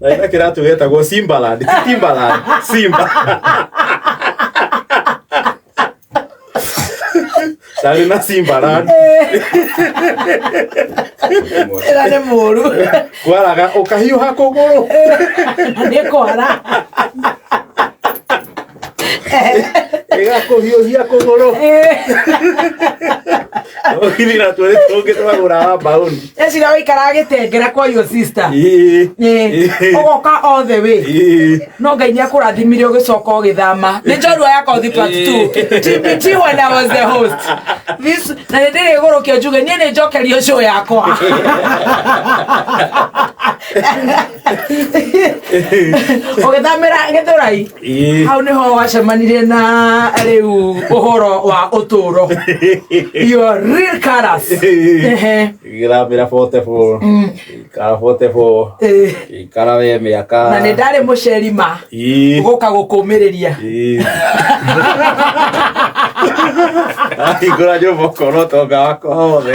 na ina kiratu wetagwo simbaland ti timbaland simba ndari na simbaland ĩra nĩ mũru kwaraga ukahiuha kuguru nĩ kwara ĩgakũhiũhia kũgũrũ ũgithira twĩrĩ tũngĩ twagũraga mbaũni ecira waikaraga gĩtengera kwa your sister ũgoka othe wĩ no ngai nĩ akũrathimire ũgĩcoka ũgĩthama nĩ njorua ya kothi part 2 tbt when I was the host this na nĩ ndĩrĩ igũrũ kĩo njuge niĩ nĩ njokerio show yakwa ũgĩthamĩra gĩthũrai Ĩĩ. hau nĩho wacemanirie na rĩu ũhoro wa ũtũũro your real colors Ehe. Ngĩthambĩra Portable. Ngĩikara Portable. Eh, Ngĩikara we mĩaka. na nĩ ndarĩ mũceri ma Ĩĩ. gũka gũkũmĩrĩria Ĩĩ. Ahingũra nyũmba ũkona ũtonga wakwa wothe.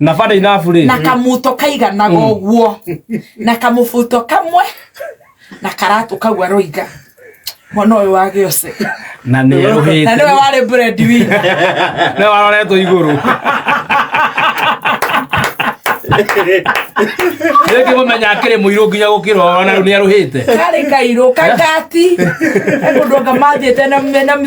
na bada inabu rä na kamuto kaiganaga mm. ũguo na kamubuto kamwe na karatũ kau aroiga mwana ũyũ wa gĩose na nĩ erũhĩte na nĩwe warĩ bread win nĩwe waroretwo igũrũ rĩngĩ mũmenya akĩrĩ mũirũ nginya gũkĩra ona rĩu nĩ erũhĩte karĩ kairũ kangati mũndũ anga mathiĩte na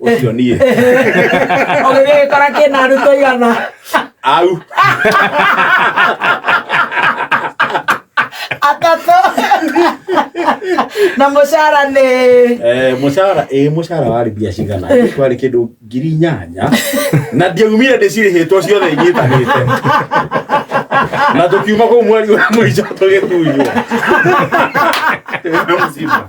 ucio nie ũgĩgĩkora kĩna arutwo igana au atatũ na mũcara nĩ Eh, mũcara ĩ mũcara warĩ mbia cigana kwarĩ kĩndũ ngiri nyanya na ndiaumire ndĩcirĩhĩtwo ciothe inyitanĩte na tũkiuma kũu mweri wa mũico tũgĩtunywo Tũrĩ na mũciba.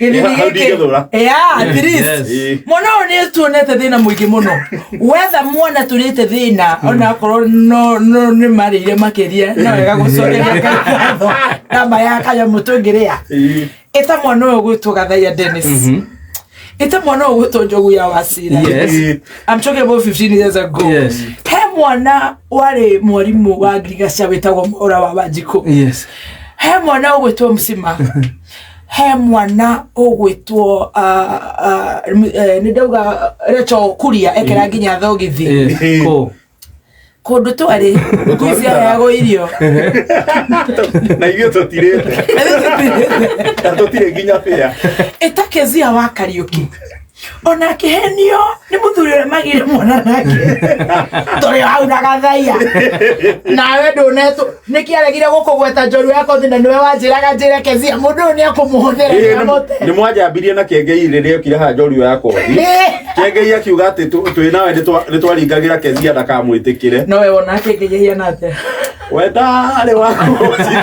gĩthimi Hau ndingĩthũra. gĩkĩ Yeah, at Yes, least. yes. Eh. mwana ũyũ nĩ tuonete thĩna mũingĩ mũno wetha mwana tũrĩte thĩna ona akorwo no no nĩ marĩire makĩria no wega gũcokeratho namba ya kanyamũ tũngĩrĩa Eh. ĩta mwana ũyũ gwĩtwo gathaia denis ĩta mwana ũyũ gwĩtwo njogu ya wacira Yes. Eh. I'm talking about 15 years ago. Yes. He mwana warĩ mwarimũ wa ngirigaca wĩtagwo Mwaura wa Wanjikũ. Yes. He mwana ũgwĩtwo Msima. He mwana ũgwĩtwo ah, ah, m- eh, nĩ ndauga recho kuria ekera nginya thogithi Eh, kũ? kũndũ twarĩ ngũici ayagwo irio na ithuĩ tũtirĩte na tũtirĩ nginya bĩa ĩtakezia wa kariũki ona akĩhenio nĩ mũthuri ũrĩa magĩire mwana nake tũrĩ hau na gathaiya nawe ndũnetũ nĩkĩ aregire gũkũgweta njoru yako thĩ na nĩwe wanjĩraga njĩre kezia mũndũ ũyũ nĩ ekũmũhũthĩra Ĩĩ, nĩ- nĩamote nĩ mwanjambirie na kengei rĩrĩa okire haha njorio ya kothi kengei akiuga atĩ tũ- twĩ nawe nĩ twa- nĩ twaringagĩra kezia ndakamwĩtĩkĩre nowe wona akĩngĩgĩhia nate we ndarĩ wakũnjia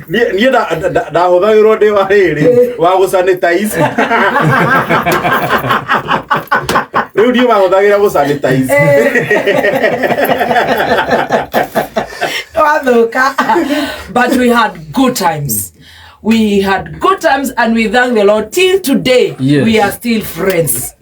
Niĩ niĩ nda- nda- nda- ndahũthagĩrwo ndĩ wa rĩrĩ wa gũ sanitize. Rĩu niĩ mahũthagĩra gũ sanitize. wathuka but we had good times we had good times and we thank the lord till today Yes. we are still friends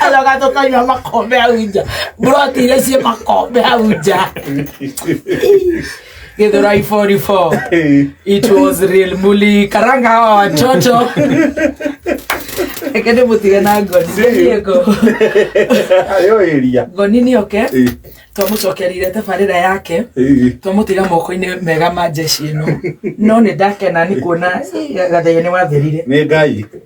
Aloka tukanywa makombe hau nja. Buroti iria ciĩ makombe hau nja. Githurai 44. It was real muli karanga hawa watoto. Ekende mutige na ngoni. Ndiye ngo. Ayo area. Ngoni ni oke. Eh, Twamucokerire tabarĩra yake. eh. twamutiga moko-inĩ mega ma njeci ĩno no nĩ ndakena nĩ kuona eh, gathĩinĩ wathirire Nĩ Ngai.